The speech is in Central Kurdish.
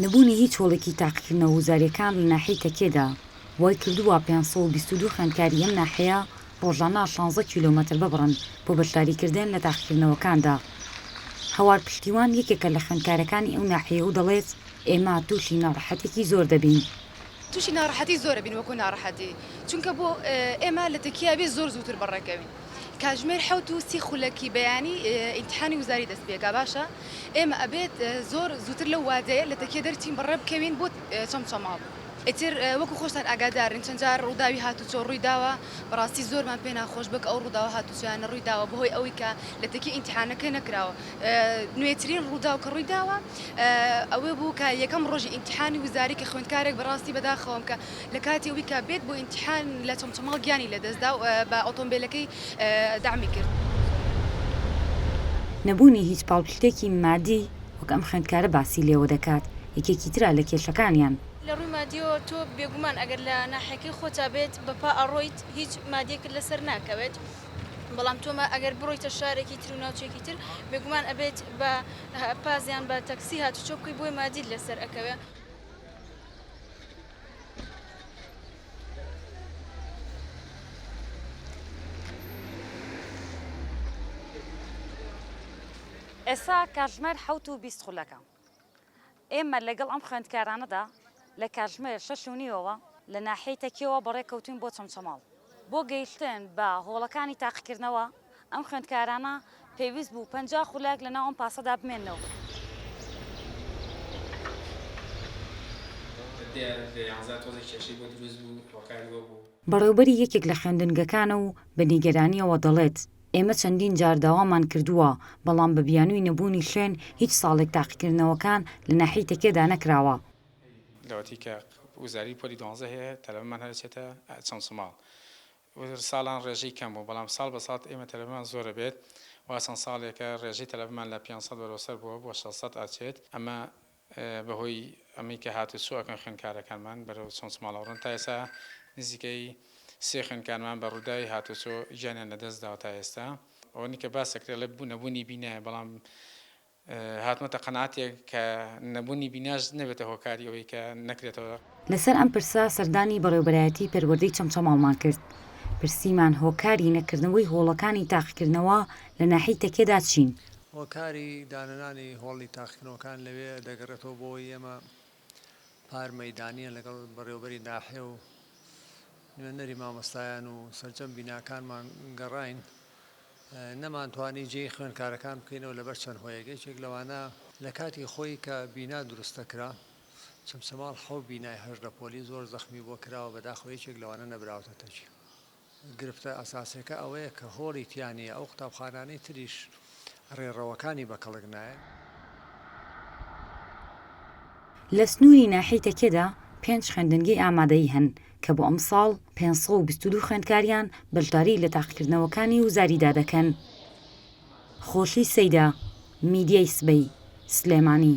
نەبوونی هیچ هۆڵێکی تاقیکردنەوە وزارییەکان لە ناحیەی تەکێدا وای کردووە پێنج سەد و بیست و دوو خوێندکاری ئەم ناحیەیە ڕۆژانە شانزە کیلۆمەتر ببڕن بۆ بەشداریکردن لە تاقیکردنەوەکاندا. هەوار پشتیوان یەکێکە لە خوێندکارەکانی ئەو ناحیەیە و دەڵێت، ئێمە تووشی ناڕەحەتێکی زۆر دەبین. تووشی ناڕەحەتی زۆر دەبین وەکو ناڕەحەتی چونکە بۆ ئێمە لە تەکیە ئەبێت زۆر زووتر بەڕێکەوین. کاژمێر حەوت و سی خولەکی بەیانی ئینتحانی وزاری دەست پێکا باشە ئێمە ئەبێت زۆر زووتر لەو وادەیە لە تەکیە دەرچین بەڕێ بکەوین بۆ چەمچەماڵ ئیتر وەکو خۆشتان ئاگادارن چەند جار ڕووداوی هاتوچۆ ڕووی داوە بەڕاستی زۆرمان پێ ناخۆش بوو کە ئەو ڕووداوە هاتوچۆیانە ڕووی داوە بەهۆی ئەوەی کە لە تەکیە ئینتحانەکە نەکراوە نوێترین ڕووداو کە ڕووی داوە ئەوە بوو کە یەکەم ڕۆژی ئینتحانی وزاری کە خوێندکارێک بەڕاستی بەداخەوەم کە لە کاتی ئەوەی کە بێت بۆ ئیمتیحان لە چەمچەماڵ گیانی لەدەستدا و بە ئۆتۆمبێلەکەی دەعمی کرد. نەبوونی هیچ پاڵپشتێکی مادی وەک ئەم خوێندکارە باسی لێوە دەکات، یەکێکی ترە لە کێشەکانیان. لە ڕووی مادییەوە تۆ بێگومان ئەگەر لە ناحیەکەی خۆتا بێت بە پا ئەڕۆیت، هیچ مادییەکت لەسەر ناکەوێت، بەڵام تۆ ئەگەر بڕۆیتە شارێکی تر و ناوچەیەکی تر بێگومان ئەبێت بە پاس یان بە تەکسی هاتوچۆ بکەیت بۆیە مادیت لەسەر ئەکەوێت. ئێستا کاتژمێر حەوت و بیست خولەکە. ئێمە لەگەڵ ئەم خوێندکارانەدا لە کاتژمێر شەش و نیوەوە لە ناحیەی تەکیەوە بەڕێکەوتووین بۆ چەمچەماڵ بۆ گەیشتن بە هۆڵەکانی تاقیکردنەوە. ئەم خوێندکارانە پێویست بوو پەنجا خولەک لە ناو ئەم پاسەدا بمێننەوە. بەڕێوبەری یەکێک لە خوێندنگەکانە و بە نیگەرانییەوە دەڵێت، ئێمە چەندین جار داوامان کردووە، بەڵام بە بیانووی نەبوونی خوێن هیچ ساڵێک تاقیکردنەوەکان لە ناحیەی تەکێدا نەکراوە. وتر ساڵان ڕێژەی کەم بوو، بەڵام ساڵ بە ساڵ ئێمە تەلەبەمان زۆر ئەبێت، وا چەند ساڵێکە ڕێژەی تەلەبەمان لە پێنج سەد بەرەو سەر بووە بۆ شەش سەد ئەچێت، ئەمە بە هۆی ئەمەی کە هات و چۆ ئەکەن خوێندکارەکانمان بەرەو چۆنچماڵ ئەڕۆن، تا ئێستا نزیکەی سێ خوێندکارمان بە ڕووداوی هات و چۆ گیانیان لە دەست داوە تا ئێستا ئەوەنەی کە باس ئەکرێ ئەڵێ بوو نەبوونی بینایە بەڵام هاتمەتە قەناتێک کە نەبونی بیناش نەبێتە هۆکاری ئەوەی کە نەکرێتەوە. لەسەر ئەم پرسە سەردانی بەڕێوبەرایەتی پەروەردەی چەمچەماڵمان کرد، پرسیمان هۆکاری نەکردنەوەی هۆڵەکانی تاقیکردنەوە لە ناحیەی تەکیەدا چین؟ هۆکاری دانەنانی هۆڵی تاقیکردنەوەکان لەوێ دەگەڕێتەوە بۆ ئەوەی ئێمە پار مەیدانییە لەگەڵ بەڕێوەبەری ناحێ و نوێنەری مامۆستایان و سەرجەم بیناکانمان گەڕین نەمانتوانی جێی خوێنکارەکان بکەینەوە لەبەر چەند هۆیەک یەکێک لەوانە لە کاتی خۆی کە بینا دروستەکرا چەمچەماڵ حەو بینای هەش لە پۆلی زۆر زەخمی بۆ کراوە بەداخەوە یەکێک لەوانە نەبراوتە تەجی گرفتە ئەساسیەکە ئەوەیە کە هۆڵی تیا نیە، ئەو قوتابخانانەی تریش ڕێڕەوەکانی بە کەڵک نایەن. لە سنووری ناحیەی تەکیەدا پێنج خوێندنگەی ئامادەیی هەن کە بۆ ئەمساڵ پێنج سەد و بیست و دوو خوێندکاریان بەشداری لە تاقیکردنەوەکانی وزاریدا دەکەن. خۆشی سەیدا، میدیای سبەی، سلێمانی.